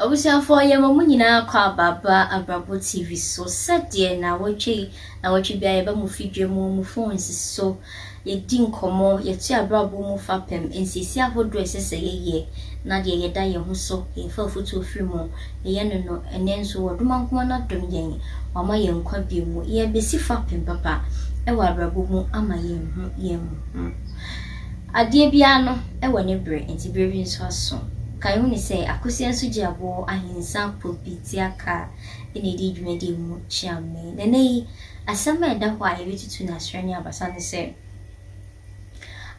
Abusuafoɔ yɛma mo nyinaa kɔ aba ba abrabɔ TV so sɛdeɛ nawɔtwe yi nawɔtwe biara yɛba mo fidwa mu mo phones so yɛdi nkɔmmɔ, yɛto yɛn abrabɔ mu fapem, nsiesie ahodoɔ a ɛsɛ sɛ yɛyɛ, na deɛ yɛda yɛn ho so, yɛfa afotuo firi mu, yɛyɛ no no, ɛnnɛ nso Ɔdomankoma no adom yɛn, wama yɛn nkwa bio mu, yɛrebɛsi fapem papa wɔ abrabɔ mu ama yɛahu yɛn ho. Adeɛ biara no wɔ ne berɛ, enti berɛ bi nso aso. Ka yɛn ho ne sɛ, akosua nso gye aboɔ, ahensa, popi, teakaa na ɛdi dwumadie mu kyeame. Na ɛnnɛ yi, Asɛm a ɛda hɔ a yebetutu no asrɛ ne abasa ne sɛ,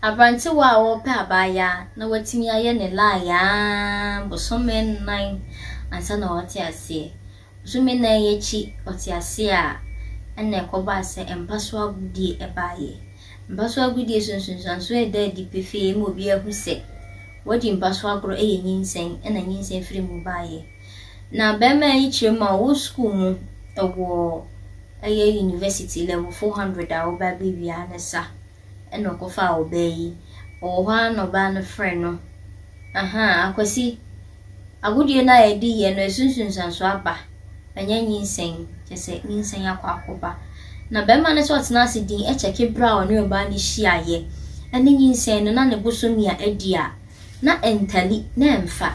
Aberantewa a ɔrepɛ abaayaa na watumi ayɛ ne lie ara bosome nnan ansa na wate aseɛ. Bosome nnan yi akyi ɔte aseɛ a, ɛnna ɛkɔbaa sɛ mpa so agodie baeɛ. Mpa so agodie so nsunsuansoɔ a ɛda adi pefee ma obiara hu sɛ, wadi mpa so agorɔ yɛ nyinsɛn na nyinsɛn firi mu baeɛ. Na bɛrima yi kyerɛ mu a ɔwɔ sukuu mu wɔ ɛyɛ university level four hundred a ɔba bɛ wia ne sa ɛna ɔkɔ faa ɔbaa yi ɔwɔ hɔ a na ɔbaa no frɛ no ahaa akwasi agodie no a yɛde yɛ no ɛso nsunsuanso aba ɛnyɛ nyinsɛn kyɛ sɛ nyinsɛn akɔ akɔba na bɛrima no sɛ ɔtena ase din ɛkyɛke berɛ a ɔne ɔbaa no hyia yɛ ɛne nyinsɛn no na ne bosomi a adi a na ɛntali na ɛmfa.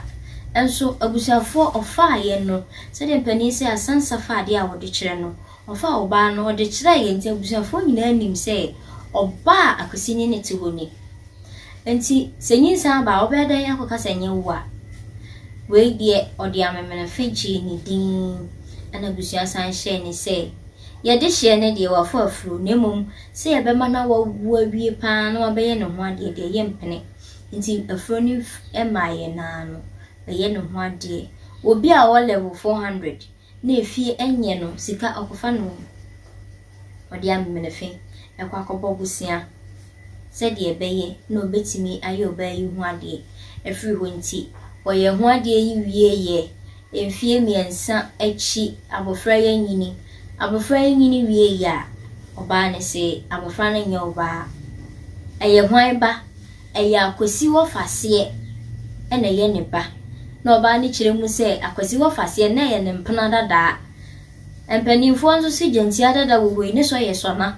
Nso abusuafoɔ ɔfaa yɛn no sɛdeɛ mpanin sɛ Asansah fa adeɛ a ɔde kyerɛ no ɔfaa ɔbaa no ɔde kyerɛɛ yɛn nti abusuafoɔ nyinaa nim sɛ ɔbaa a Akwasi ne no te hɔ ni. Nti sɛ nyinsɛn aba a wobɛyɛ dɛn akɔka sɛ ɛnyɛ wo a? Wei deɛ ɔde amemenefe gyee ne din ɛna abusua san hyɛɛ ne sɛ yɛde hyeɛ no deɛ wafɔ afuro na mmom sɛ yɛbɛma no awawu awie pa ara na wabɛyɛ ne ho adeɛ deɛ yɛmpene. Ntsi afora no maa hɛn ara no, ɔyɛ no ho adeɛ. Obi a ɔwɔ level four hundred na efie nnyɛ no sika, ɔkɔfa no hɔ, ɔde amemenefe kɔ akɔbɔ bosea sɛdeɛ ɛbɛyɛ na ɔbɛtumi ayɛ ɔbaa yi ho adeɛ afiri hɔ. Nti ɔyɛ ho adeɛ yi wieeɛ Mfeɛ mmiɛnsa akyi abɔfra yi anyini. Abɔfra yi nyini wieeɛ a, ɔbaa no se abɔfra no nyɛ ɔbaa. Ɛyɛ hwan ba? Ɛyɛ Akwasi Wɔfaseɛ na ɛyɛ ne ba. Na ɔbaa no kyerɛ mu sɛ Akwasi Wɔfaseɛ na ɛyɛ ne mpena dadaa. Mpanimfoɔ nso se Gyantia dada wɔ hɔ yi, ne sɔ yɛ sɔna.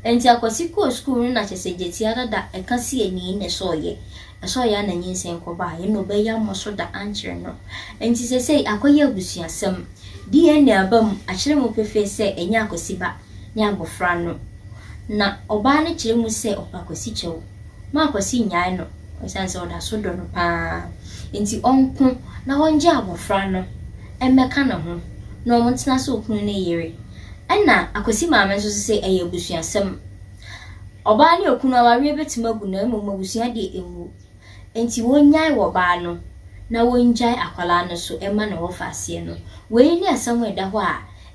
Enti Akwasi kɔɔ sukuu no na kyerɛ sɛ Gyatia dada ɛka siani ne sɔeɛ. Ɛsɔɔ yɛ a na nyinsɛn kɔba a, ɛnna ɔbɛyɛ mmɔ so da ankyerɛ no. Enti seesei akɔyɛ abusuasɛm. DNA aba mu, akyerɛ mu pefee sɛ ɛnyɛ Akwasi ba ne abofra no. Na ɔbaa no kyerɛ mu sɛ ɔpɛ Akwasi kyɛw. Ma Akwasi nnyae no esiane sɛ ɔda so dɔ no pa ara nti, ɔnko na ɔngye abofra no mmɛka ne ho na wɔntena sɛ okunu ne yere. Ɛnna Akwasi maame nso se ɛyɛ abusuasɛm. Ɔbaa ne okunu awareɛ bɛtumi agu na mmom abusua deɛ ɛnwu. Enti wɔnnyae wɔbaa no na wɔngyae akwadaa no so mma ne wɔfa aseɛ no. Wei ne asɛm a ɛda hɔ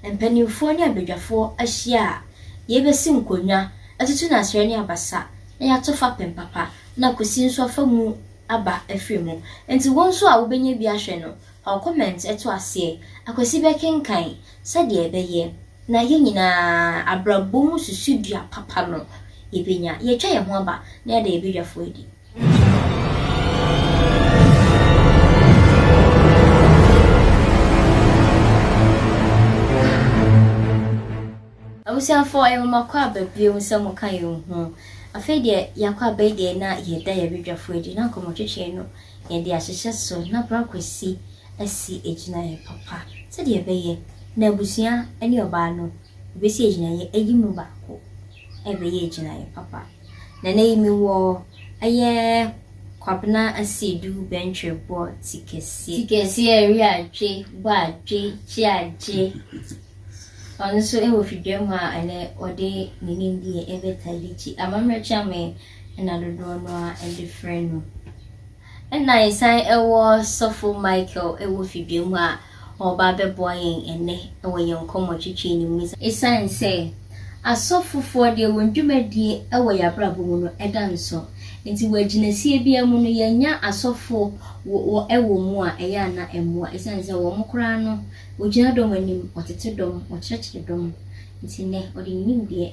a mpanimfoɔ ne abadwafoɔ ahyia a yɛbɛsi nkonnwa, atutu no asrɛ ne abasa na yɛato fapem papa na kwasi nso afa mu aba afiri mu. Enti wo nso a wobɛnya bi ahwɛ no, Ɔn comment ɛto aseɛ. Akwasi bɛkenkan sɛdeɛ ɛbɛyɛ na yɛn nyinaa abrabɔ mu susudua papa no yɛbɛnya. Yɛatwa yɛn ho aba na yɛada yɛn badwafoɔ adi. Abusuafoɔ ɛyɛ nwoma kɔ aba bio sɛ mo ka yɛn ho. Afei deɛ yɛakɔ aba yi deɛ na yɛda yɛn badwafoɔ adi na nkɔmmɔtwetwe no yɛde ahyehyɛ so na bere akwasi asi gyinae papa sɛnea ɛbɛyɛ na abusua ne ɔbaa no besi agyinae ayi mu baako ɛbɛyɛ agyinae papa. Nana yi me wɔ ɛyɛ Kwabena Asiedu Bɛntwerɛ bɔ ti kɛseɛ. Ti kɛseɛ ɛwe adwe, bɔ adwe, gye agye. Ɔno nso ɛwɔ Fidwam a ɛnɛ ɔde ne nimdeɛ ɛbɛta de gye amammerɛ kyɛn me na dodoɔ no ara de frɛ no. Ɛna yɛsan wɔ sɔfo Michael wɔ fidua mu a ɔreba abɛboa yɛn ɛnnɛ wɔ yɛn nkɔmmɔtwetwe no mu. Ɛsiane sɛ asɔfofoɔ deɛ wɔn dwumadie wɔ yɛn abrabɔ mu no da nso nti wɔ agyinasie biara mu no yɛnya asɔfo wɔ mu a ɛyɛ a na ɛmmoa ɛsiane sɛ wɔn koraa no wɔgyina dɔm anim, wɔtete dɔm, wɔkyerɛkyerɛ dɔm nti nnɛ wɔde ne nimdeɛ.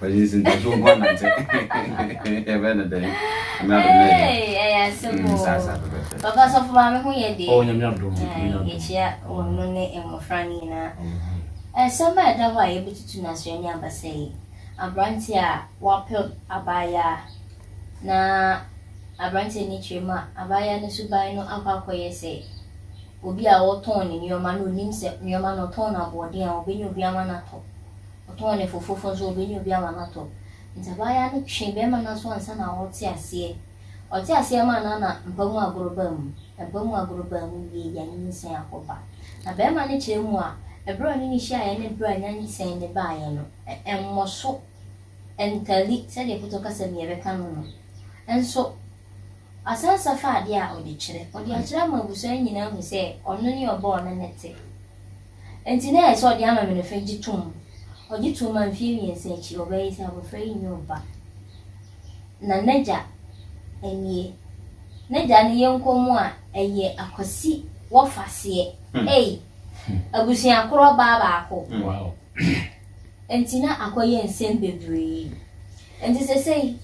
Pɛgye nsi nti so nko anante. Ɛbɛ ne dɛn. Ɛmɛ adom na ɛyɛ. Ɛyɛ asɛm mm, o. Sasa pɛpɛpɛ. Papa sɔfo maame ho yɛ deɛ. Oh nyame adom. Yɛkyia wɔn no ne mmɔfra no nyinaa. Ɛsɛm a ɛda hɔ a yɛbɛtutu no asrɛ ne abasa yi. Aberante a wapɛ abaayaa na aberante ne kyerɛ mu a abaayaa no suban no akɔ akɔyɛ sɛ obi a ɔtɔn ne nneɛma no onim sɛ nneɛma no ɔtɔn no aboɔden a ɔbɛnya obi ama no atɔ. Ɔtɔɔ no fo foforo nso, ɔbɛnya obi ama no atɔ. Nti abaayaa no twee bɛɛma no aso ansa na ɔɔte aseɛ. Ɔte aseɛ maa no a na mpa mu agorɔ baa mu. Na mpa mu agorɔ baa mu wie yɛ a nyinsɛn akɔ ba. Na bɛɛma no kyerɛ mu a, ɛberɛ a ɔne no hyiaeɛ ne berɛ a nyansɛn no baeɛ no, ɛmmɔso, ɛntali, sɛdeɛ Foto kasa mu yɛbɛka no no. Nso. Ɔsan sɔ fa ade a ɔde kyerɛ. Ɔde akyerɛ ama abusua no nyinaa ahu sɛ ɔno ne ɔbɔɔ no no te. Enti na ɛyɛ sɛ ɔde ama me no fɛ gye tom. Ɔgye toom a mfeɛ mmiɛnsa akyi ɔbaa yi sɛ abɔfra yi nyɛ ɔba. Na n'agya nie. N'agya no yɛ nkɔm a ɛyɛ akwasi wɔfaseɛ. Ei! Abusua korɔ ɔbaa baako. Enti na akɔyɛ nsɛm bebree. Enti sesei.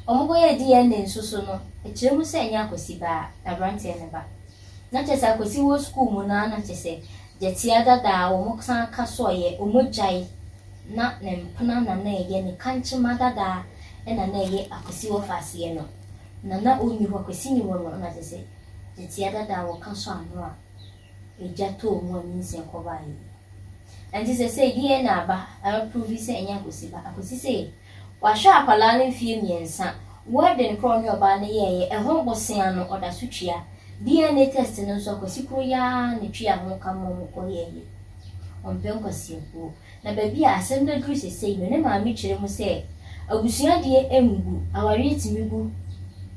Wɔkɔyɛɛ DNA nso so no, ɛkyerɛ mu sɛ ɛnyɛ Akwasi ba a, na aberanteɛ no ba. Na kyerɛ sɛ Akwasi wɔ sukuu mu no ara na kyerɛ sɛ gyɛtia dada a wɔsan ka soɔeɛ, wɔgyae, na ne mpena na na ɛyɛ ne kankyema dada na na ɛyɛ Akwasi wɔfa aseɛ no. Na na ɔnni hɔ, Akwasi nni hɔ no na kyerɛ sɛ gyɛtia dada a wɔka sɔ ano a ɛgya tɔɔ mu a nyinsɛn kɔbaeɛ yi. Ɛnti sɛ sɛ DNA ba ɛbɛ provi sɛ ɛnyɛ Akwasi ba, Akwasi sɛ. Wahwɛ akwadaa no mfeɛ mmiɛnsa. Wedding korɔ a ɔne ɔbaa no yɛeɛ, ɛho bosea no ɔda so tua. DNA test no nso akwasi koro yi ara na ɛtuaa ho ka maa wɔkɔyɛeɛ. Ɔmpɛ nkwasiakuo. Na baabi a asɛm no aduru seesei no, ne maame kyerɛ mu sɛ, Abusua deɛ ɛngu, awareɛ tumi gu,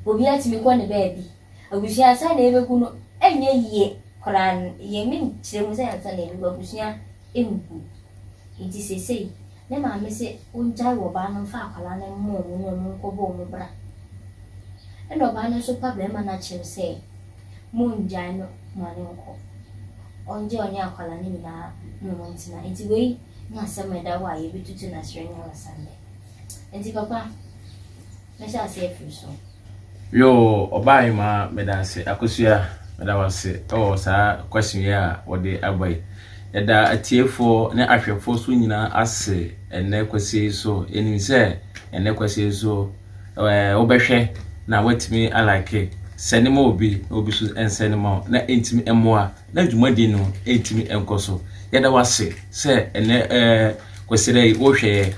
obiara tumi kɔ ne baabi. Abusua ansa na yɛbɛgu no ɛnyɛ yie koraa no yɛ me nkyerɛ mu sɛ ansa na yɛbɛgu abusua ɛngu nti seesei ne maame se ɔngyae wɔ ɔbaa no mfa akwadaa no mma ɔmo na ɔmo nkɔ bɔ ɔmo bra ɛna ɔbaa no nso pa bɛrima no akyɛm sɛ mongyae no ma no nkɔ ɔngye ɔne akwadaa no nyinaa na ɔmo ntena nti wei ne asɛm ɛda hɔ a yɛbɛtutu no aserɛ nyansa nnɛ nti papa Mɛhyɛ ase afiri so. Yoo ɔbaa yi maa meda ase akosua meda wase ɛwɔ saa question yi a wɔde aba yi yɛda atiefoɔ ne ahwɛfoɔ so nyinaa ase ɛnɛ kwasie yi so yɛnim sɛ ɛnɛ kwasie yi so ɛɛ wobɛhwɛ na watumi alike sɛne ma obi na obi so nsɛne ma na ɛntumi mmoa na dwumadi no ɛntumi nkɔ so yɛda wase sɛ ɛnɛ ɛɛ kwasie yi wohwɛ yɛ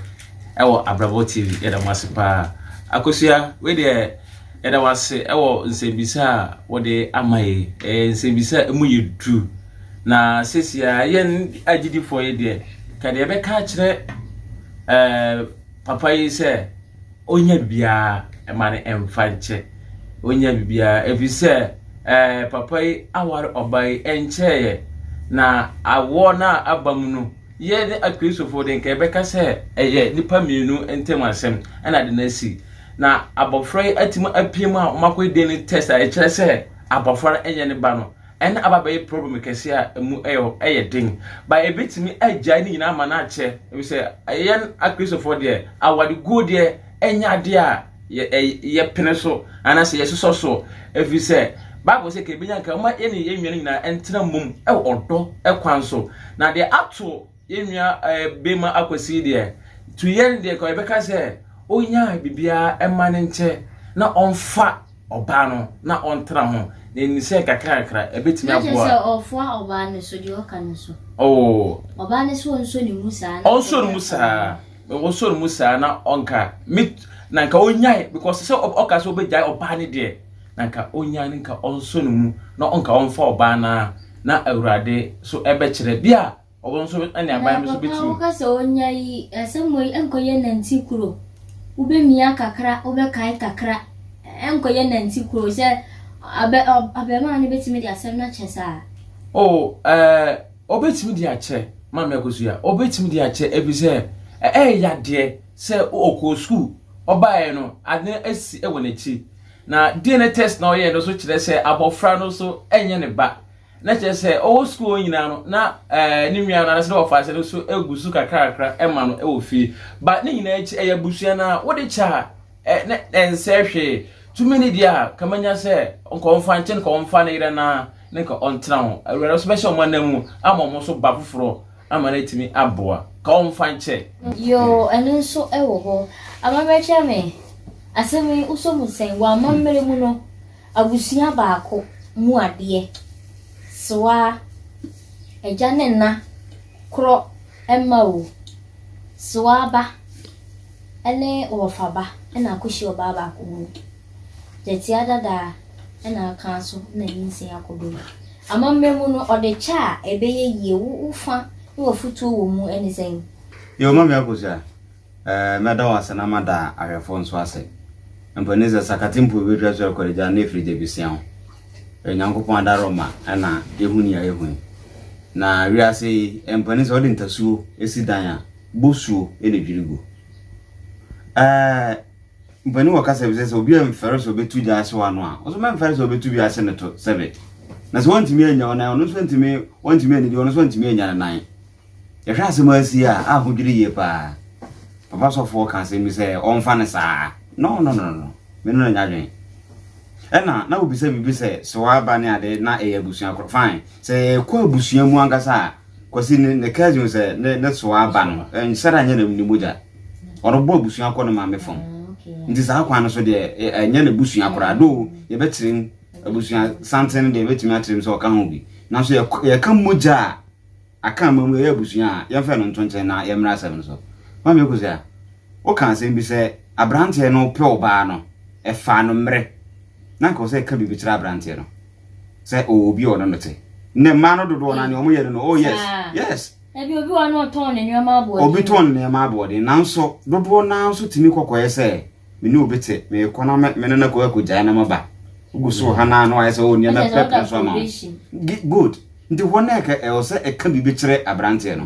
ɛwɔ Abrabɔ TV. Yɛda mo ase paa. Akosua, wei deɛ yɛda wo ase ɛwɔ nsɛmbisa a wɔde ama yi. Ɛyɛ nsɛmbisa a ɛmu yɛ duru. Na sesia yɛn agyidifoɔ yi deɛ, ka deɛ yɛbɛka akyerɛ ɛɛ papa yi sɛ ɔnya bibiara ɛma no ɛmfa nkyɛ. Ɔnya bibiara ɛfiri sɛ ɛɛ papa yi aware ɔbaa yi ɛnkyɛeɛ na awoɔ no a aba mu no. Yɛn ne Akristofo de, nka yɛbɛka sɛ ɛyɛ nnipa mmienu ntam asɛm na ade no asi. Na abɔfra yi atumi apue mu a wɔakɔyɛ DNA test a ɛkyerɛ sɛ abɔfra no nyɛ ne ba no, ɛnna aba abɛyɛ problem kɛse a emu yɛ den. Ba ebetumi agyae ne nyinaa ama no akyɛ, efisɛ yɛn Akristofo deɛ, awareguo deɛ, ɛnyɛ adeɛ a yɛ ɛ yɛpene so anaasɛ yɛsosɔ so ɛfiri sɛ bible sɛ ka ɛbɛnya nka ma yɛne yɛn nnuane nyinaa ɛntena mmom ɛwɔ ɔdɔ ɛkwan so na deɛ ato yɛn nua ɛɛ bɛma akwasi deɛ to yɛn deɛ ka yɛbɛka sɛ ɔnya biribiara ɛma ne nkyɛ na ɔmfa ɔbaa no na ɔntena ho na ɛni sɛ kakra kakra ɛbɛtumi aboa na kyɛ sɛ ɔfoa ɔbaa no so deɛ ɔka no so ɔbaa no so ɔnsɔ ne mu saa ɔnsɔ ne mu saa Wɔsɔ no mu saa na ɔnka me na nka ɔnyae because sɛ ɔka sɛ ɔbɛgyae ɔbaa no deɛ na nka ɔnyae no nka ɔnsɔ no mu na ɔnka ɔmfa ɔbaa no a na awurade so ɛbɛkyerɛ bi a ɔwɔ nso ne aban no so bɛtumi. Papa woka sɛ ɔnya yi asɛm wei ɛnkɔyɛ nanti kuro wobɛmia kakra wobɛkae kakra ɛnkɔyɛ nanti kuro sɛ abɛmaa no bɛtumi de asɛm no akyɛ saa. Oh ɛɛ. Uh... Ɔbɛtumi de akyɛ, Maame Akosua, ɔbɛtumi de akyɛ ɛfiri sɛ ɛyɛ yadeɛ sɛ ɔkɔɔ sukuu, ɔbaeɛ no ade no asi wɔ n'akyi. Na DNA test na ɔyɛɛ no nso kyerɛ sɛ abɔfra no nso ɛnyɛ ne ba. Na kyerɛ sɛ ɔwɔ sukuu hɔ nyinaa no na ɛɛ ne nua no anaasɛ ne wɔfaase no nso ɛgu so kakrakakra ɛma no ɛwɔ fie. Ba ne nyinaa akyi ɛyɛ abusua no a wode kyɛ a. Ɛ ne ɛnsɛ hwee. Tumi no deɛ a, ka manya sɛ nka ɔmfa nkyɛ no, ka ɔmfa ne yerɛ no ara ne nka ɔntena ho. Awurade nso bɛhyɛ wɔn anan mu ama wɔn nso ba foforɔ ama no atumi aboa. Ka ɔmfa nkyɛ. Yoo, ɛno nso wɔ hɔ. Amammerɛkyerɛ me, asɛm yi wosɔ mu sɛn? Wɔ amammerɛ mu no, abusua baako mu adeɛ, sewa, agya ne nna korɔ mma o, sewa ba. ne wɔfaba na Kushi ɔbaa baako wom. Gyatsia dada na aka so na ne nsi akɔ do yi. Amambra mu no, ɔde kyɛ a ebɛyɛ yie, wo wo fa na w'afotuo wɔ mu ne sɛn? Yo Mame Akosua, eh, mɛda wo ase na mada ahwɛfoɔ nso ase. Mpo ne sɛ sakate mpo bi bɛtwa so akɔre gyaa no na ɛfiri gya bi sia ho. Ɛyɛ Nyankopɔn adaroma na yɛhu nea yɛhu yi. Na wiase yi, mpo ne sɛ wode ntasuo si dan a, Bosuo na edwiri gu. Ɛɛ mpanin wɔ kasa bi sɛ sɛ obi mfɛre sɛ ɔbɛtu gya ahyew ano a, wo nso mɛmfɛre sɛ ɔbɛtu bi ahye ne to sɛbe. Na sɛ wɔntumi annya wo nan, ɔno nso ntumi, wɔntumi anidi, ɔno nso ntumi annya ne nan. Yɛhwɛ asɛm asi a, a ho dwiri yie paa. Papa sɔfoɔ ka asɛm bi sɛ ɔmfa ne saa. No, no, no, no. Mene no anya adwene. Ɛna na wobisa biribi sɛ soa aba ne ade na ɛyɛ abusua korɔ. Fine. Sɛ ɛkɔ abusua mu ankasa a, Kwasi ne ne cousin sɛ ne ne soa aba no nsɛre anyɛ ne ne mogya ɔrebɔ abusua kɔ ne maame fam nti saa kwan no so deɛ ɛnyɛ ne busua koraa do yɛbɛkyerɛm abusua santen no deɛ yɛbɛtumi akyerɛm sɛ ɔka ho bi nanso yɛka mogya a aka ama mu yɛyɛ abusua a yɛmfɛ no nto nkyɛn na yɛmmra asɛm no so maame ɛkɔsi a woka asɛm bi sɛ aberanteɛ no pɛ ɔbaa no ɛfaa no mmerɛ na nka ɔsɛ ɛka biribi kyerɛ aberanteɛ no sɛ ɔwɔ obi a ɔne no te ne mmaa no dodoɔ na nea wɔyɛ no no oh yes yes ebi obi wɔ no ɔtɔn ne nneɛma aboɔden obi tɔn ne nneɛma aboɔden nanso dodoɔ naa nso tumi kɔkɔɛ sɛ me ne obi te me kɔ na me ne no kɔ akɔgyae na maba wogu so ha na na wayɛ sɛ ɔwɔ nneɛma pɛpɛ nso ama good nti hɔ na ɛka ɛwɔ sɛ ɛka biribi kyerɛ aberanteɛ no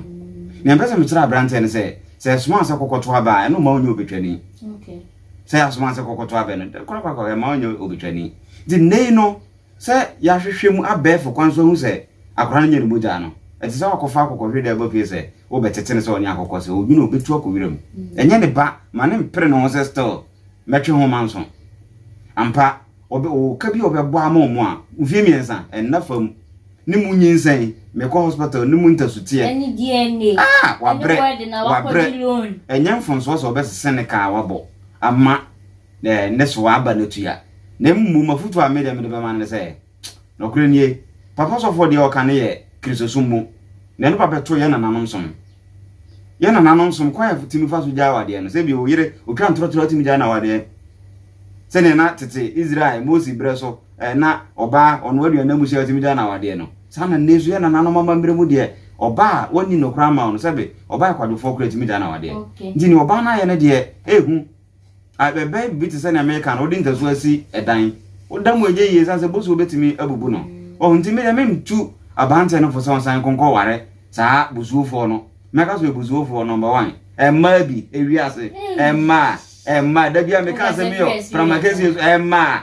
nea mpɛ sɛ mekyerɛ aberanteɛ no sɛ sɛ ɛsoma sɛ kɔkɔto aba a ɛno ma wonyɛ obɛtwani okay sɛ yɛasoma sɛ kɔkɔto abɛ no, korakora ɛma ɔnyɛ obetwani. Nti nnɛ yi no, sɛ yɛahwehwɛ mu abɛɛfo kwan so ahu sɛ akora no nyɛ ne mogya no, ɛte sɛ wakɔfa akokɔhwe de aba fie sɛ wobɛtete no sɛ ɔne akokɔ, sɛ odwene a obetu akɔ wiram. Ɛnyɛ ne ba, ma no mpere ne ho sɛ still mɛtwe ho manso. Ampa, ɔbɛ, ɔwɔ ka bi a ɔbɛbɔ ama ɔmo a, mfie mmiɛnsa, ɛnna fam. Ne mu nyinsɛn me kɔ hospital ne mu ntasuteɛ ɛne DNA ah wabrɛ wabrɛ ɛnyɛ mfonsoɔ sɛ ɔbɛsese ne kaa wabɔ ama eh, ne so aba no tua na mmu mafutu a medeɛ mede bɛma no ne sɛ nɔkorɛ nie papa sɔfoɔ deɛ ɔka ne yɛ kristosom mu na ɛno ba bɛto yɛ nananom som yɛ nananom som kwan a tumi fa so gyaa wadeɛ no sɛ bi ɔyere ɔtwa ntorɔtorɔ tumi gyaa na wadeɛ sɛdeɛ na tete Israel Mose berɛ so na ɔbaa ɔno aduane no amu sɛ ɔtumi da no awadeɛ no saa na nnɛ nso yɛ nananom amammerɛ mu deɛ ɔbaa a wɔnni no koraa ma wo no sɛbe ɔbaa kwadwofoɔ koraa tumi da no awadeɛ nti ne ɔbaa no ayɛ no deɛ ɛhu ɛbɛyɛ biribi te sɛ nea meka no wode ntasu asi ɛdan woda mu ɛnyɛ yie sane sɛ bosuo bɛtumi abubu no ɔho nti medeɛ memtu abanteɛ no fo sɛ ɔnsan nkɔnkɔ ware saa bosuofoɔ no mɛka so ɛbosuofoɔ number one ɛmmaa bi ɛwiase ɛmmaa ɛmmaa da bia meka sɛ meyɔ pramakɛsie so ɛmmaa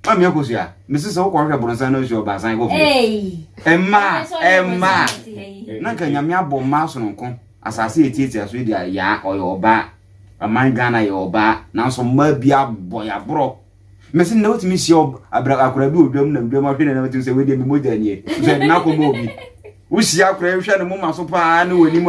Mami akosua, mese sɛ wokɔ hwɛ bronsan na nsuo ɔbaa san kɔ fie. Mmaa, mmaa, na nka nyame abɔ mmaa sononko. Asase yɛ tietia so yɛ di ayaa ɔyɛ ɔbaa. Aman Ghana yɛ ɔbaa, nanso mmaa bi abɔ yɛ aborɔ. Mese nnɛ wotumi hyia akora bi wɔ dwam nam dwam ahwɛ ne nam atumi sɛ wei deɛ me mogya nie. Nso yɛde no akɔma obi. wohyia koraa wohwɛ ne moma so paa ne w'anim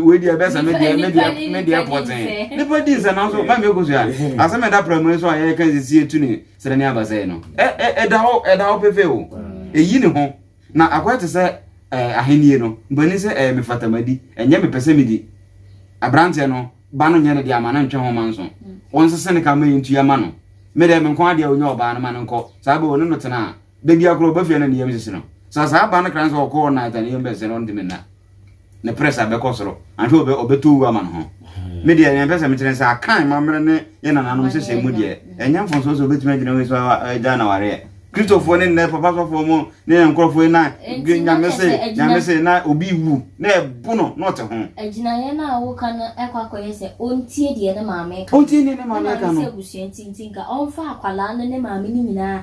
wei deɛ ɛbɛsɛ me deɛ me deɛ me deɛ pɔtee nipa di nsɛ nanso ma mi ekosu a asɛm ɛda prɛmo yi so a yɛka sisi etu ne srɛ ne abasa yi no ɛda hɔ ɛda hɔ pefe o eyi ne ho na akɔyɛ te sɛ ɛɛ ahenni no mpani sɛ ɛɛ mefatamadi ɛnyɛ mepɛ sɛ medi aberanteɛ no ba no nyɛ ne deɛ ama no ntwɛn ho ma nso wɔn nsese ne ka ma yɛn ntua ma no me deɛ me nkɔn adeɛ a onye ɔbaa no ma no nkɔ saa bɛ wɔn ne no tena a da bi akoro ɔba fie na ne yam sese no sɛ saa aba no kra no sɛ ɔkɔ all night a ne yam bɛsese no ɔntumi nna ne press abɛkɔ soro anhwɛ ɔbɛ ɔbɛtɔ wu ama no ho me deɛ ɛnɛ mpɛ sɛ mekyerɛ sɛ akan mammerɛ ne yɛ nananom nhyehyɛ mu deɛ ɛnyɛ mfonso sɛ obɛtumi agyina wei so agya na wareɛ kristofoɔ ne nnɛ papa sɔfoɔ mu ne yɛ nkurɔfoɔ na nyame se nyame se na obi wu na ɛbo no na ɔte ho agyinaeɛ no a woka no ɛkɔ akɔyɛ sɛ ɔntie deɛ ne maame ka ɔntie deɛ ne maame ka no ɛna ne sɛ abusua ntinti nka ɔmfa akwalaa no ne maame no nyinaa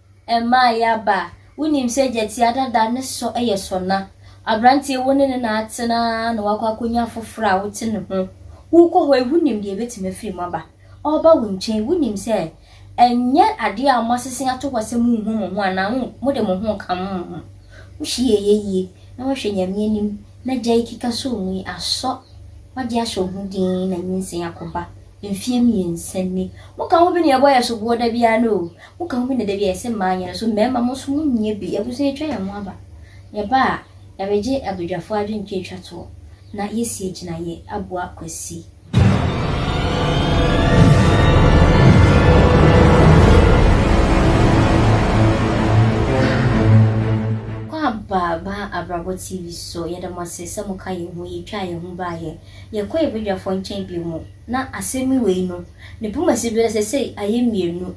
Ɛmaa Yaba a wonim sɛ gyati adada ne sɔ yɛ sɔna, aberanteɛ wo ne ne na atena ara na woakɔ akɔnya foforɔ a wote ne ho. Wokɔ hɔ yi, wonim deɛ ɛbɛtumi afiri mu aba. Ɔreba wo nkyɛn, wonim sɛ ɛnyɛ adeɛ a moasese ato hɔ sɛ monhu mo ho anaa mo mode mo ho reka mo ho. Wohye yɛ yɛ yie na woahwɛ Nyame anim na gya yi keka sɔ mu yi asɔ, woagye ahyɛ wo ho dinn na nyinsɛn akɔba. Mfeɛ mmiɛnsa ni. Moka ho bi na yɛbɔ yɛ soboɔ da biara no o, Wo ka ho bi na da bi a yɛse mmaa nyɛ no so mmarima mo nso mo nyɛ bi abusua atwa yɛn ho aba yɛba a yɛbegye abadwafoɔ adwentwa atwa toɔ na yɛasie gyinaeɛ aboa Kwasi. Kwaba baa abrabɔ TV so yɛda mo ase sɛ mo ka yɛn ho yɛtwaa yɛn ho baayɛ yɛkɔ yɛn badwafoɔ nkyɛn bio mo na asemi wei no. Ne poma si do dɛ sesei ayɛ mmienu.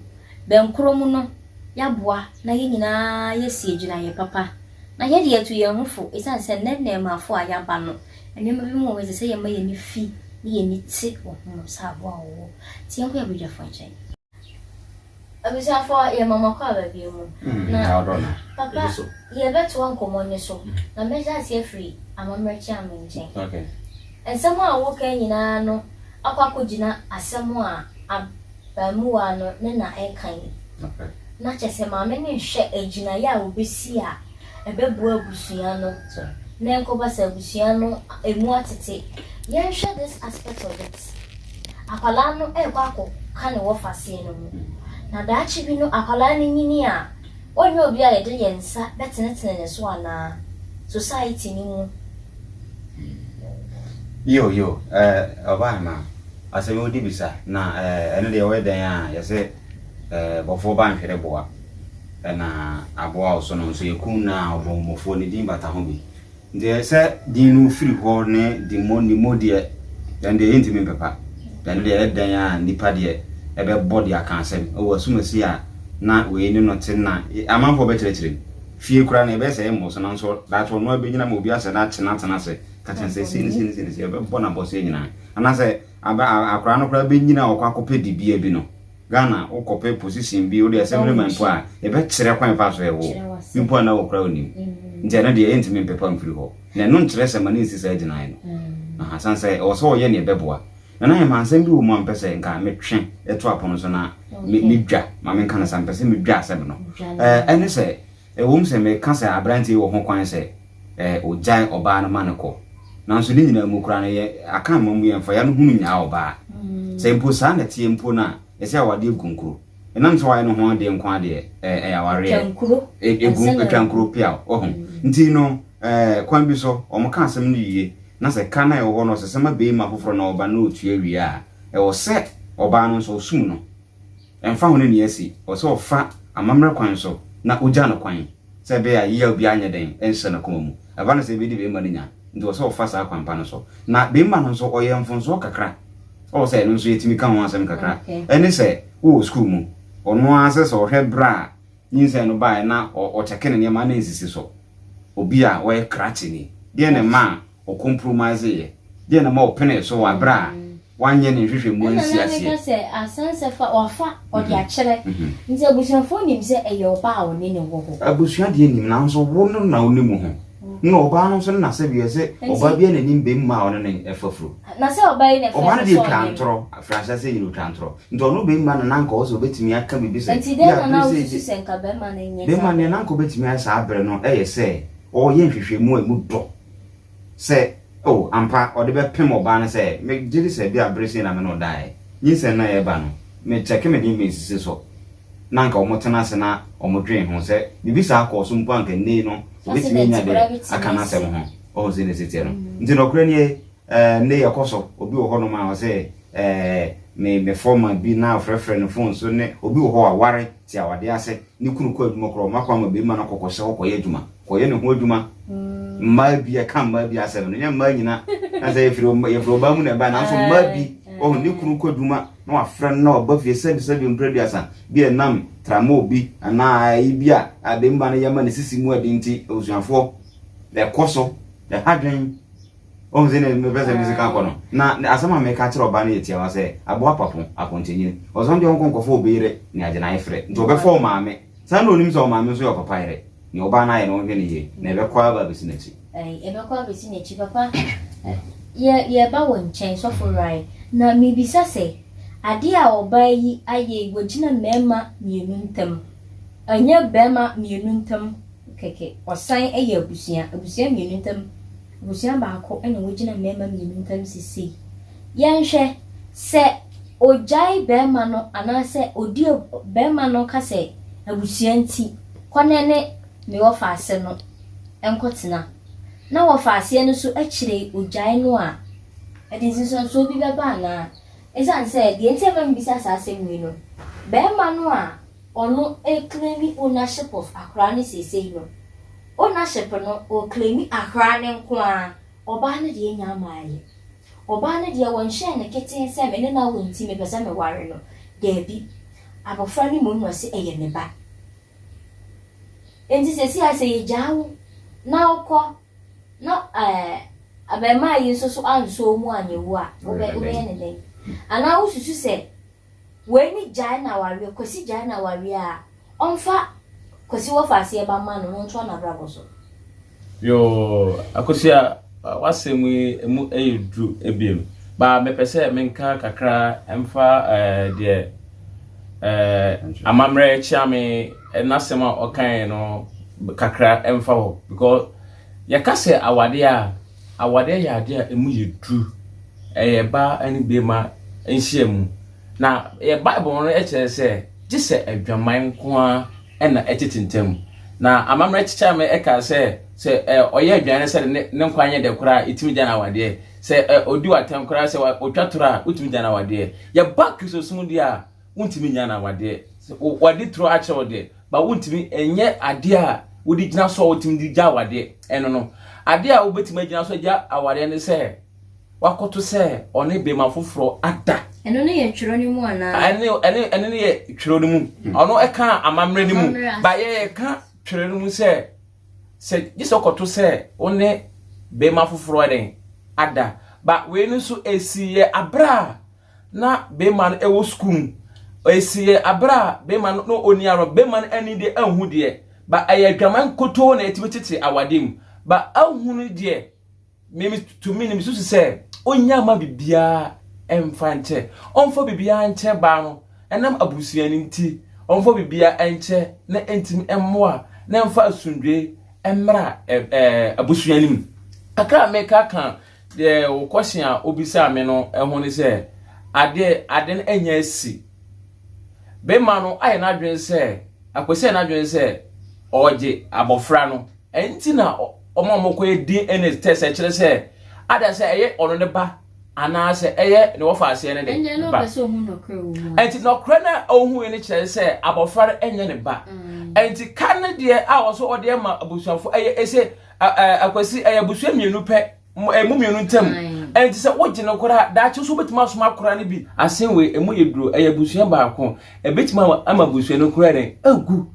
Bɛn koro mu no, yɛaboa na yɛn nyinaa yɛasi agyinaeɛ papa. Na yɛde yɛtu yɛn ho fo ɛsiane sɛ nnɛ nnɛɛmaafo a yɛaba no, nneɛma bi mu wɔ hɔ a ɛsɛ sɛ yɛma yɛn ani fi ne yɛn ani te wɔ ho sɛ aboa a wɔwɔ. Nti yɛnkɔ yɛn badwafoɔ nkyɛn. Abusuafoɔ, yɛma mo akwaaba bio mu. Na, Papa, yɛbɛtoa nkɔmmɔ no so, na mɛhyɛ aseɛ firi amammerɛ Kyeame nkyɛn. Nsɛm a wokae nyinaa no akɔ akɔgyina asɛm a abaamuwaa no ne na reka yi. Na kyerɛ sɛ maame no rehwɛ agyinaeɛ a ɔbɛsi a Ɛbɛboa abusua no to na ɛnkɔba sɛ abusua no ɛmu atete. Yɛnhwɛ this aspect of it, Akwadaa no ɛrekɔ akɔ ka ne wɔfaseɛ no mu. Na daakye bi no akwadaa no nyini a, ɔnyɛ obi a yɛde yɛn nsa bɛtenetene ne so anaa? Society no mu. Yo yo eh ɔbaa no asɛm wode bisa na eh ɛno deɛ woyɛ dɛn a yɛse eh bɔfoɔ ba nhwere boa. na aboa wo so no nso yɛ kun no a ɔbɔnmɔfoɔ ne din bata ho bi deɛ sɛ din no firi hɔ ne dimmo nimmo deɛ yɛn deɛ yɛntumi mpepa yɛn deɛ ɛyɛ dɛn a nipa deɛ ɛbɛbɔ deɛ aka asɛm ɛwɔ asumasi a na wei ne no te na amanfoɔ bɛkyerɛkyerɛ mu fie kura na ɛbɛyɛ sɛ ɛmmɔ so nanso daakye ɔno abɛgyina ma obi asɛ da akye no atena ase kakyɛ sɛ sei ne sei ne sei ne sei ɛbɛbɔ no abɔseɛ nyinaa anaasɛ akora no koraa bɛnyina ɔkɔ akɔpɛ dibea bi no Ghana wokɔpɛ position bi wode assembly man mpo a yɛbɛkyerɛ kwan fa so ɛwo bi mpo a na wokora wonim nti ɛno deɛ yɛntumi mpepa mfiri hɔ na ɛno nkyerɛ sɛ ma ne nsi saa gyinae no aha san sɛ ɛwɔ sɛ ɔyɛ neɛ ɛbɛboa Nana Hemaa nsɛm bi wɔ mu a mpɛ sɛ nka metwe ɛto apono so na medwa ma menka no sa mpɛ sɛ medwa asɛm no ɛne sɛ Ɛwom sɛ meka sɛ aberante yi wɔ hokwan sɛ ogyae ɔbaa no ma no kɔ, nanso ne nyinaa mu koraa no, yɛn akã mma mu yɛmfa yɛn ano hunu nyaa ɔbaa. Sɛ mpo saa na ɛteɛ mpo no a, ɛsɛ awadeɛ nkonkuro. Ɛnam sɛ wayɛ ne ho adeɛ nko ara deɛ, ɛyɛ awareɛ. Ɛgu, ɛtwa nkuro peaw. Wahu? Nti no, kwan bi so, wɔka asɛm no yiye, na sɛ ka no a ɛwɔ hɔ no, ɔsesa ma beima foforɔ na ɔba na ɔtua wie a, ɛwɔ sɛ ɔbaa no nso, ɔsum no. Ɛmfa ho ne nea asi, ɛwɔ sɛ ɔfa amammerɛ kwan so na ogyaa no kwan, sɛ ɛbɛyɛ a yeyaw biara nyɛ dɛn nhyɛ n'akoma mu. Ɛba no sɛ ebedi barima no nya, enti ɛwɔ sɛ ɔfa saa kwan pa no so. Na barima no nso, ɔyɛ mfomsoɔ kakra, ɛwɔ sɛ ɛno nso yɛtumi ka ho asɛm kakra. Ɛne sɛ, wowɔ sukuu mu, ɔno ara sɛ sɛ ɔhwɛ berɛ a nyinsɛn no baeɛ na ɔkyɛke ne nneɛma na ɛnsisi so. Obi a ɔyɛ krakyeni, deɛn na ɛma a ɔkompromaeseyɛ? Deɛn na ɛma ɔpenee so wɔ berɛ a wanyɛ ne nhwehwɛmu ansi aseɛ? Ɛna na meka sɛ asansɛ fa wafa ɔde akyerɛ nti abusuafoɔ nim sɛ ɛyɛ ɔbaa a ɔne no wɔ hɔ. Abusua deɛ nim nanso wo no na wonim ho na ɔbaa no nso no na sɛbio sɛ ɔbaa biara na nim bɛmma a ɔne no ɛfa furo. Na sɛ ɔbaa yi na ɛfrɛ no sɛ ɔyɛ no. Ɔbaa no deɛ twaa ntorɔ firi ahyɛaseɛ nyina ɔtwaa ntorɔ nti ɔno bɛmma no na nka ɔwɔ sɛ ɔbɛtumi aka biribi sɛ. Nti dɛn na na wosusu sɛ nka bɛmma no nyɛ saa berɛ no. Bɛmma no deɛ na nka ɔbɛtumi ayɛ saa berɛ no yɛ sɛ ɔreyɛ nhwehwɛmu a ɛmu dɔ sɛ, Oh, ampa, ɔde bɛpem ɔbaa no sɛ, Me gye di sɛ ebia bere sei na me ne wo dae. Nyinsɛn no a ɛreba no, me kyɛke me den mesisi so. Na anka wɔtena ase na wɔdwen ho. Sɛ biribi saa kɔɔ so mpo a anka nnɛyi no, obetumi anya de aka n'asɛm ho. Wahu sɛnea ɛsɛ teɛ no? Enti nokorɛ nie, Eh, nnɛ yi ɛkɔ so. Obi wɔ hɔnom a ɔse, Eh, me, me fɔma bi na ɔfrɛfrɛ no fon so ne, obi wɔ hɔ waware, te awadeɛ ase, ne kunu kɔ adwuma koraa ɔma kwan ma barima no kɔ kɔhyɛ hɔ kɔyɛ adwuma, kɔyɛ ne ho adwuma. Mmaa bi, ɛka mmaa bi asɛm no, nyɛ mmaa nyina, na sɛ yɛfiri, yɛfiri ɔbaa mu na ɛbae, nanso mmaa bi, ɔho, ne kunu kɔ adwuma na wafrɛ no na ɔba fie sɛbi sɛbi mprɛduasa, bi ɛnam tramol bi, anaa ayi bi a, a barima no yɛ ma ne sisi mu ɛden nti, abusuafoɔ, ɛkɔ so, ɛha dwen. Ohun sɛ na mepɛ sɛ me sika kɔ no. Na asɛm a meka kyerɛ ɔbaa no yɛ tiawa sɛ, Aboa papo, akɔntɛnyini. Ɔsɔn deɛ ɔnkɔ nkɔfa obi yere ne agyenae frɛ. Nti ɔbɛfa wo maame. Saa na onim sɛ wo maame nso yɛ ɔpapa yere. Nea ɔbaa no ayɛ no ɔnhwɛ no yie. Na ɛbɛkɔ ara aba abɛsi n'akyi. Ai, ɛbɛkɔ abɛsi n'akyi. Papa, yɛ, yɛreba wo nkyɛn, Sɔfo Ray. Na mebisa sɛ, adeɛ a ɔbaa yi ayɛ yi, wagyina mmarima mmienu ntam. Ɛnyɛ barima mmienu ntam kɛkɛ. Ɔsan yɛ abusua, abusua mmienu ntam. Abusua baako na wogyina mmarima mmienu ntam seesei. Yɛnhwɛ, sɛ ogyae barima no anaasɛ odi a barima no ka sɛ abusua nti, kɔ na ne me wɔfaase no nkɔtena, na wɔfaaseɛ no nso akyire yi ogyae no a, ɛde nsonsonosoɔ bi bɛba anaa? Ɛsiane sɛ, deɛ nti a ɛma mebisa saa asɛm wei no, barima no a ɔno ɛre'claim ownership of' akwadaa no seesei no, Ownership no, ɔreclaimi ahraa no nko ara. Ɔbaa no deɛ nyaa mmaeɛ. Ɔbaa no deɛ wɔnhyɛɛ no ketee sɛ me ne no awo nti mepɛ sɛ meware no. Daabi. Abɔfra no mmom na ɔse ɛyɛ me ba. Enti seesei ara sɛ yɛgyaa wo na wokɔ na ɛɛ abarimaa yi nso so ansɔ wo mu anyɛ wu a, wobɛ, wobɛyɛ no dɛn? Anaa wosusu sɛ. Wei ne gyae no awareɛ Kwasi gyae no awareɛ a ɔmfa Kwasi wɔfa aseɛ ba mma no na ɔntoa n'abrabɔ so. Yoo Akosua w'asɛm yi emu yɛ duru ebiem ba mepɛ sɛ menka kakra mfa eh, deɛ eh, amammerɛ kyeame eh, n'asɛm a ɔkae no kakra mfa hɔ because yɛka sɛ awadeɛ a Awadeɛ yɛ adeɛ a ɛmu yɛ duru. Ɛyɛ baa ne beema nhyiamu. Na yɛ Bible no kyerɛ sɛ gye sɛ adwaman nko ara na ɛtete ntam. Na amammerɛ kyekyɛɛ me kaa sɛ, sɛ ɔyɛ adwan no sɛ ne ne nkwa nyɛ dɛ koraa a, ɛtumi gya no awadeɛ. Sɛ ɔdi wo atɛm koraa sɛ ɔtwa toro a, wotumi gya no awadeɛ. Yɛba Kristosom deɛ a, wontumi nnya no awadeɛ wɔde turo akyerɛ wo deɛ ba wontumi ɛnyɛ adeɛ a wode gyina so a wotumi de gya awadeɛ ɛno no adeɛ a wobɛtumi agyina so agya awadeɛ ne sɛ wakɔto sɛ ɔne bɛma foforɔ ada ɛno no yɛ twerɛ no mu anaa ɛne ɛne ɛne no yɛ twerɛ no mu hmm. ɔno ɛka amammerɛ no mu ba yɛyɛ ka twerɛ no mu sɛ sɛ gye sɛ ɔkɔto sɛ wo ne bɛma foforɔ ɛdɛn ada ba wei no nso ɛsi yɛ aberɛ a na barima no wɔ sukuu mu, ɛsiiɛ aberɛ a barima no na ɔni awerɛ, barima no ani deɛ anhu deɛ, ba ɛyɛ adwaman nkotoo na ɛtumi tete awadeɛ mu, ba ahunu deɛ, me me tumi no mesusu sɛ ɔnnya ma biribiara ɛmfa nkyɛ, ɔmfa biribiara nkyɛ baa no, ɛnam abusua no nti, ɔmfa biribiara nkyɛ na ɛntumi mmoa na ɛmfa asomdwoeɛ mmra ɛɛ abusua no mu. Kakra a meka ka. Deɛ wo question a wobisaa me no ho ne sɛ, adeɛ ade no anya asi. Bema no ayɛ n'adwene sɛ, akɔsi ayɛ n'adwene sɛ ɔregye abɔfra no. Ɛnti na ɔma wɔkɔyɛ DNA test ɛkyerɛ sɛ ada sɛ ɛyɛ ɔno ne ba anaasɛ ɛyɛ ne wɔfa aseɛ no de ba. Ɛnti nɔkorɛ no a ɔhuui no kyerɛ sɛ abɔfra no ɛnyɛ ne ba. Ɛnti ka no deɛ a ɔsɛ ɔde ma abusuafo ɛyɛ ɛsɛ. Akwasi, ɛyɛ abusua mmienu pɛ, ɛmu mmienu ntam. Ɛnti sɛ wogye no koraa, daakye nso wobɛtumi asoma akora no bi. Asen wei, ɛmu yɛ duro, ɛyɛ abusua baako. Ɛbɛtumi ama abusua no koraa dɛn? Agu.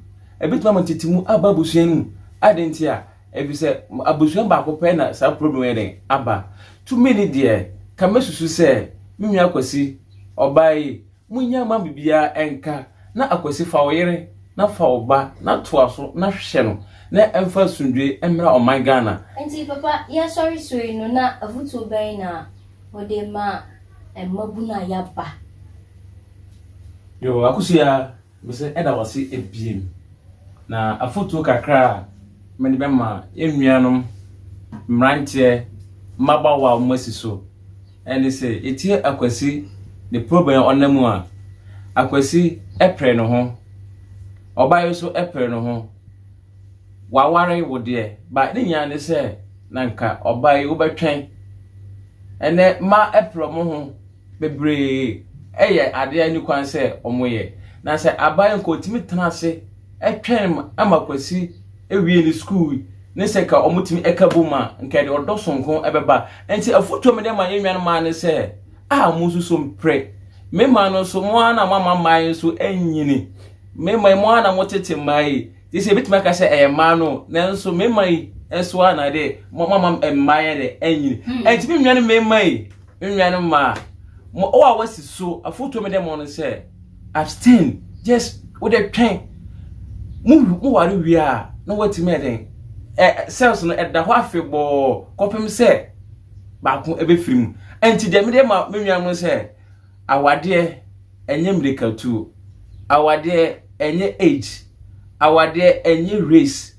Ɛbɛtumi ama tete mu aba abusua no mu. Adɛn nti a? Ɛfiri sɛ abusua baako pɛ na saa problem yɛ dɛn? Aba. Tumi ni deɛ, ka mɛsusu sɛ me nua Akwasi, ɔbaa yi, Munnya mma biribiara nka, na Akwasi fa wo yere na fa wo ba na toa so na hwɛ no na ɛmfa asomdwoe mmra ɔman Ghana. Enti papa yi asɔre so yi no na afutuo bɛn na wode ma mmabunu a yaba. Yoo akosua. Mese ɛda wo ase abiem. Na afotuo kakra a mede bɛma yɛn nuanom mmeranteɛ mmabaawa a wɔn asi so ɛne sɛ yɛtie Akwasi ne program a ɔnam mu a, Akwasi pere ne ho, ɔbaa yi so pere ne ho, waware wo deɛ, ba ne nyinaa ne sɛ na nka ɔbaa yi wobɛtwɛn ɛnɛ mmaa pere wɔn ho. bebree yɛ ade a enni kwan sɛ wɔyɛ. Na sɛ abae nka otumi tena ase twɛn ma Kwasi awie ne sukuu ne sɛ nka wɔtumi ka bom a, nka ɛde ɔdɔ soronko bɛba. Enti afotu a mede ma yɛn nuanom mmaa ne sɛ, a monsu so mpere. Me mmaa no nso, mo ara na moama mmaa yi nso anyini. Me mma yi, mo ara na motete mmaa yi. Gye sɛ ebetumi aka sɛ ɛyɛ mmaa no, nanso me mma yi nso ara na ɛde moama mmaa yi de anyini. Enti me nuanom mmarima yi, Me nuanom mmaa, mo a wɔasi so, afotuo a mede mo no sɛ, abstain, just wode twɛn. Mo mo ware wie a, na wɔatumi ayɛ dɛn? Ɛ cells no ɛda hɔ afebɔɔ kɔpem sɛ baako ɛbɛfiri mu. Ɛnti deɛ mede ma me nuanom no sɛ, awadeɛ ɛnyɛ mmirikatuo, awadeɛ ɛnyɛ age, awadeɛ ɛnyɛ race,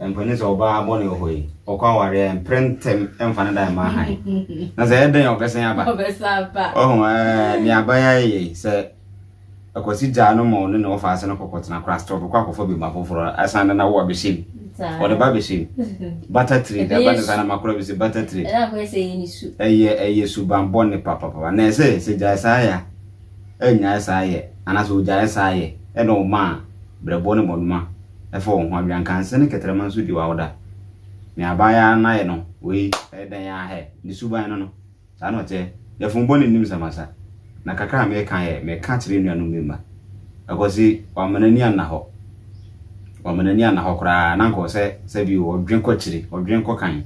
Mpanyin sɛ ɔbaa bɔne wɔ hɔ yi, ɔkɔ awareɛ a mpere ntɛm mfa ne dan mma han. Na sɛ ɛdɛn ɔbɛsɛn aba. Ɔho ɛɛ ne abaya yɛ sɛ akwasi gyaa no ma ɔne ne ɔfa ase no kɔkɔ tena kora stop kɔ akɔfa bi ma foforɔ asan na na wo abɛhyɛ mu. Ɔde ba bɛhyɛ mu. Bata trade ɛba ne saa na makora bi sɛ bata trade. Ɛyɛ ɛyɛ suban bɔne papapapa na ɛsɛ sɛ gyae saa ya. annyae saa yɛ anaasɛ ogyaee saa yɛ, ɛnna ɔmaa brɛboɔ ne mmɔnoma faa wɔn ho. Aweankanse ne kɛtrɛma nso di w'awoda. Nea aban yɛ ara no ayɛ no, wei ɛyɛ dɛn ara hɛ! Ne suban no no, saa na ɔteɛ. Yafunu bɔne nnim samasa, na kakra a mereka yɛ meka kyerɛ nuanom me mma. Akwasi, wama n'ani anna hɔ. Wama n'ani anna hɔ koraa, na anka ɔwɔ sɛ sɛ bio ɔdwen kɔ akyiri, ɔdwen kɔ kan,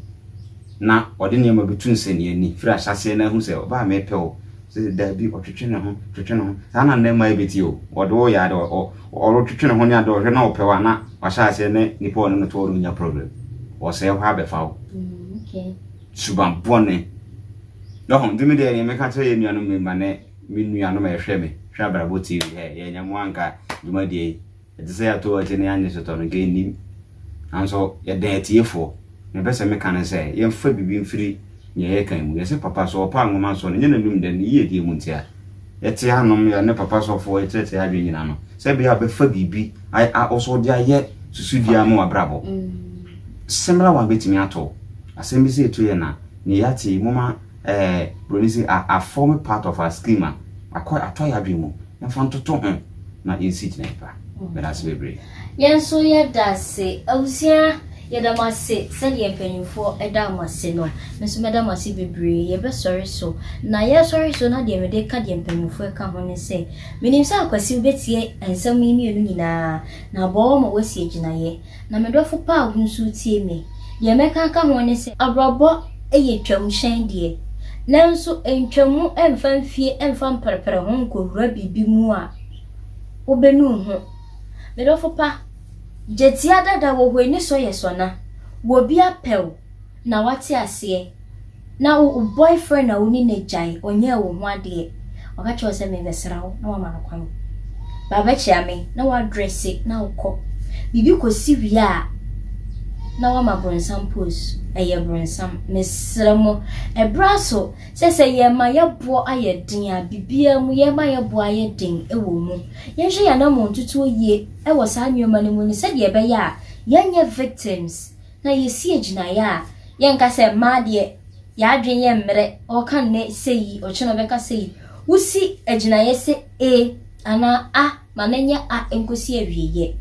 na ɔde nneɛma bi to nsɛnniiɛ ani firi ahyɛaseɛ na ahu sɛ, Ɔbaa merepɛ wo. Sɛ daabi ɔtwetwe ne ho twetwe ne ho saa na nnɛ mmaa yi bɛte o wɔde wo yɛ ade ɔretwetwe ne ho ne ade ɔhwɛ na ɔpɛ wa na wahyɛ aseɛ ne nipa ɔne no to ɔno nya problem ɔsɛe hɔ abɛfa wo suban bɔne yɛho nti me deɛ deɛ meka kyerɛ yɛ nuanom mma ne me nuanom ɛhwɛ me hwɛ abrabɔ tv hɛ yɛnyɛ mo anka dwumadie yi Ɛte sɛ yɛato w'akyi na yɛannye sotɔ no, nka ennim. Nanso yɛdɛn atiefoɔ? Nea mepɛ sɛ meka ne sɛ, yɛmfa biribi mfiri nea yɛkan mu. Yɛse papa so ɔpaa nwoma nso no, ɛnyɛ n'anom dɛ, ne yiedie mu nti a. Yɛte anom, yɛne papa sɔfoɔ rekyerɛkyerɛ yɛn adwene nyina no, sɛ ɛbɛyɛ a ɔbɛfa biribi ayɛ a wo nso wode ayɛ susudua ama w'abrabɔ. Similar one bɛtumi ato wo. Asɛm bi sɛ ɛtu yɛn a, nea yɛate yi, momma ɛɛ, Buroni se, a, a form part of our scheme a, akɔ, atɔ yɛn adwene mu. na fa ntoto ho na yɛnsi gyinae pa. Meda ase bebree. Yɛn nso yɛda ase. Abusua, yɛda mo ase sɛdeɛ mpanimfoɔ daa mo ase no. Me nso mɛda mo ase bebree. Yɛbɛsɔre so. Na yɛresɔre so no, adeɛ mede reka deɛ mpanimfoɔ ka ho ne sɛ, menim sɛ Akwasi wobɛtie nsɛm yi mmienu nyinaa, na aboa wo ama woasi agyinaeɛ. Na me dɔfo paa wo nso wotie me. Deɛ mɛka aka ho ne sɛ. Abrabɔ yɛ twam hyɛn deɛ. Nanso ntwa mu mfa mfie mfa mprɛprɛ ho nkɔwura biribi mu a wobɛnu wo ho. Me dɔfo pa, gyatia dada wɔ hɔ ani sɔ yɛ sɔ na. Wɔ bi apɛ wo. Na wate aseɛ. Na wo wo boyfriend a wo ne no agyae, ɔnyɛɛ wo ho adeɛ. Waka kyerɛ wo sɛ merebɛsra wo, na woama no kwan. Ba bɛkyea me, na woadrɛse na wokɔ. Biribi kɔsi wie a, na woama bronsam pose. Ɛyɛ bronsam. Mesrɛ mo, ɛberɛ aso sɛ sɛ yɛma yɛboɔ ayɛ den a, biribiara mu, yɛma yɛboɔ ayɛ den wɔ mu. Yɛnhwɛ yɛn anammɔntutuo yie wɔ saa nneɛma no mu ne sɛdeɛ ɛbɛyɛ a yɛnyɛ victims. na yɛsi agyinaeɛ a, yɛnka sɛ mmaa deɛ yɛadwene yɛ mmerɛ, ɔka nnɛ sɛ yi, ɔkyena ɔbɛka sɛ yi. Wosi agyinaeɛ sɛ e anaa a ma no nyɛ a nkɔsi awieɛ.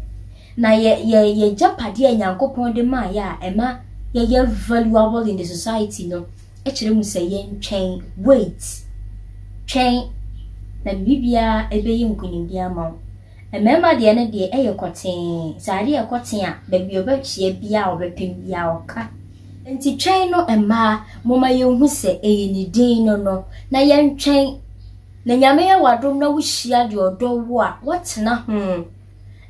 Na yɛ yɛ yɛ gyapadeɛ a Nyankopɔn de maa yɛ a ɛma yɛyɛ valuable in the society no kyerɛ mu sɛ yɛntwɛn, wait, twɛn, na biribiara ɛbɛyɛ nkonimdie ama wo. Mmarima deɛ no deɛ ɛyɛ kɔtee, sɛ adeɛ yɛ kɔtee a, baabi a ɔbɛkyea biara, ɔbɛpem biara ɔka. Nti twɛn no mmaa, momma yɛnhu sɛ ɛyɛ ne din no no, na yɛntwɛn. Na Nyame yɛ w'adom na wohyia deɛ ɔdɔ wo a, woatena ho.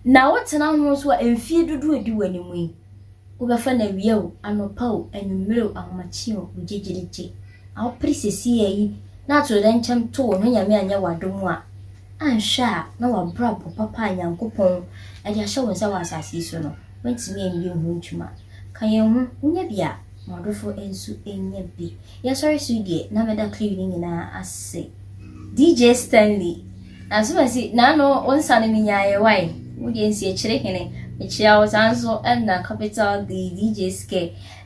Na wotena ho nso a, mfeɛ dodoɔ a ɛdi w'anim yi, Wobɛfa no awia o, anɔpa o, anwummere o, ahomakye o, wo gyegyeregye a wopere seseiɛ yi na atoyerɛnkyɛm to wo na Onyame anyɛ wo adom a, anhwɛ a na w'abrabɔ papa a Nyankopɔn de ahyɛ wo nsa wɔ asase yi so no, woantumi anyɛ ho adwuma. Ka yɛn ho, wonya bi a, ma w'adɔfo nso nya bi. Yɛsɔre so yi deɛ, na mɛda cliw no nyinaa ase. DJ Stanley. Na so masi n'ano wo nsa no me nyaeɛ wai wo deɛ nsi akyire hene mekyea wo saa nso ɛna capital D DJ Skɛ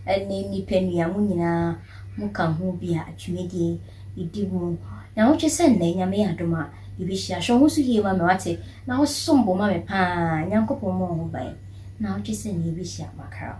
ɛne nipanua mo nyinaa mo ka ho bi a dwumadie yi di mu nyawotwe sɛ nnɛ nyame yɛ adom a yɛbɛhyia hwɛ wo ho so yie ma me wate na wo som bo ma me paa Nyankopɔn mmɔ wo ho ban nawotwe sɛ nnɛ yɛbɛhyia makra.